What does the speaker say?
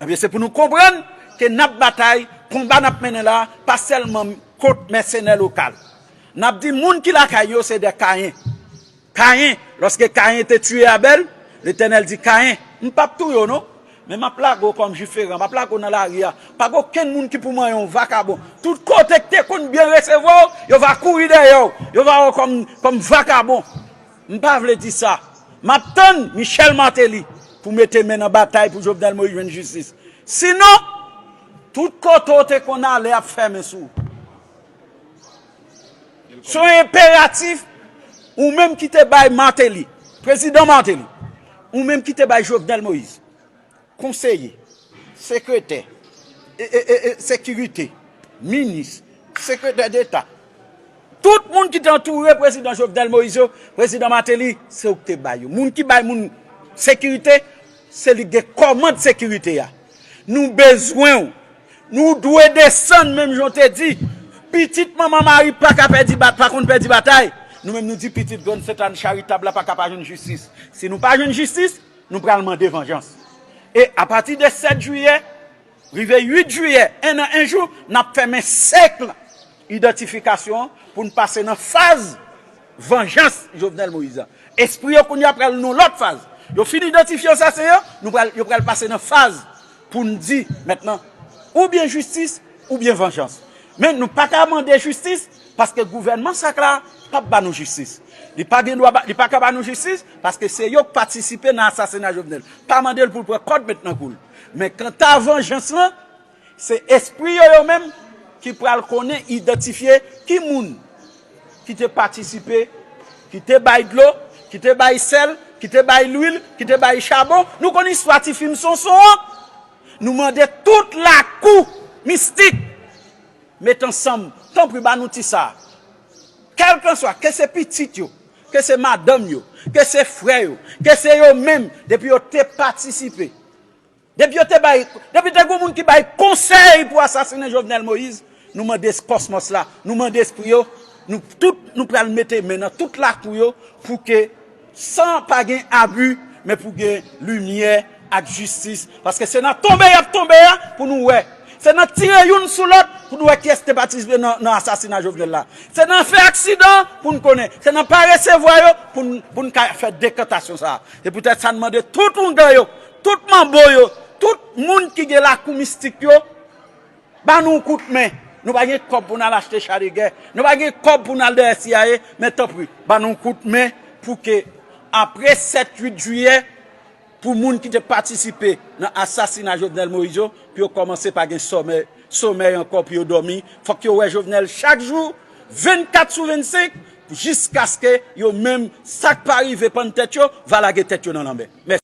Ebyen se pou nou konprann ke n ap batay, konba n ap mennen la a pa sèlman kont mèsenè lokal. N ap di moun ki lakay yo se de Kayen. Kayen, lòske Kayen te tiye Abèl, Letènèl di Kayen, M p ap touye w non, men m ap lage w kòm jiferan, m ap lage w nan lari a, pa gen okenn moun ki pou manyen w, vakabon. Tout kote k te konn byen resevwa w, yo va kouri dèyè w, yo va wè w kòm vakabon. M pa vle di sa. M ap tann Michel Martelly pou mete men nan batay pou Jovenel Moïse jwenn jistis. Sinon, tout kote w te konn ale ap fèmen sou ou. Se yon enperatif, ou menm ki te bay Martelly, Prezidan Martelly, ou menm ki te bay Jovenel Moïse, Konseye, Sekretè, Sekirite, Minis, Sekretè Deta, tout moun ki te antoure Prezidan Jovenel Moïse yo, Prezidan Martelly, se ou ki te bay yo. Moun ki bay moun sekirite, se li ki gen kòmand sekirite a. Nou bezwen ou. Nou dwe desann menm jan ou te di, pitit Manman Mari pa ka pèdi, pa konn pèdi batay, nou menm nou di pitit Grann Sent Anne Charitab la pa ka pa jwenn jistis. Si nou pa jwenn jistis. Nou pral mande vanjans. E apati de 7 jiyè, rive 8 jiyè, 1 an 1 jou, n ap fèmen sèkl idantifikasyon an pou n pase nan faz vanjans Jovenel Moïse la. Espri yo kounye a pral nan lòt faz. Yo fin idantifye asasen yo, nou pral, yo pral pase nan faz pou n di mètnan oubyen jistis oubyen vanjans. Men nou pa ka mande jistis Paske gouvènman sak la pap ba nou jistis. Li pa gen dwa ba, li pa ka ba nou jistis, paske se yo k patisipe nan asasina Jovenel. Pa mande l pou l pran kòd met nan kou l. Men kanta vanjans lan, se espri yo yo menm ki pral konnen idantifye ki moun ki te patisipe, ki te bay dlo, ki te bay sèl, ki te bay lwil, ki te bay chabon. Nou konn istwa ti fim Sonson an? Nou mande tout lakou mistik. Met ansanm, tanpri ba nou ti sa. Kèlkanswa, ke se pitit yo, ke se madanm yo, ke se frè yo, ke se yo menm, depi yo te patisipe, depi yo te bay, depi te gen yon moun ki bay konsèy pou asasinen Jovenel Moïse, nou mande kòsmòs la, nou mande espri yo, nou tout nou pral mete men nan tout lakou yo pou ke. San pa gen abu men pou gen limyè ak jistis paske se nan tonbe yap tonbe a pou nou wè se nan tire youn sou lòt pou nou wè kiyès te patisipe nan asasina Jovenel la se nan fè aksidan pou nou konnen se nan pa resevwa yo pou nou ka fè dekantasyon sa se poutèt sa nou mande tout ougan yo tout manbo yo tout moun ki gen lakou mistik yo Ba nou yon kout men, nou pa gen kòb pou n al achte cha de gè, nou pa gen kòb pou n al dèyè CIA, men tanpri, ba nou yon kout men pou ke apre 7, 8 jiyè, pou moun ki te patisipe nan asasina Jovenel Moïse yo, pou yo kòmanse pa gen sòmèy, somèy ankò pou yo dòmi, fòk yo wè Jovenel chak jou, 24 sou 25, jiskaske yo menm, sa k pa rive pann tèt yo, va lage tèt yo nan lanmè. Mèsi.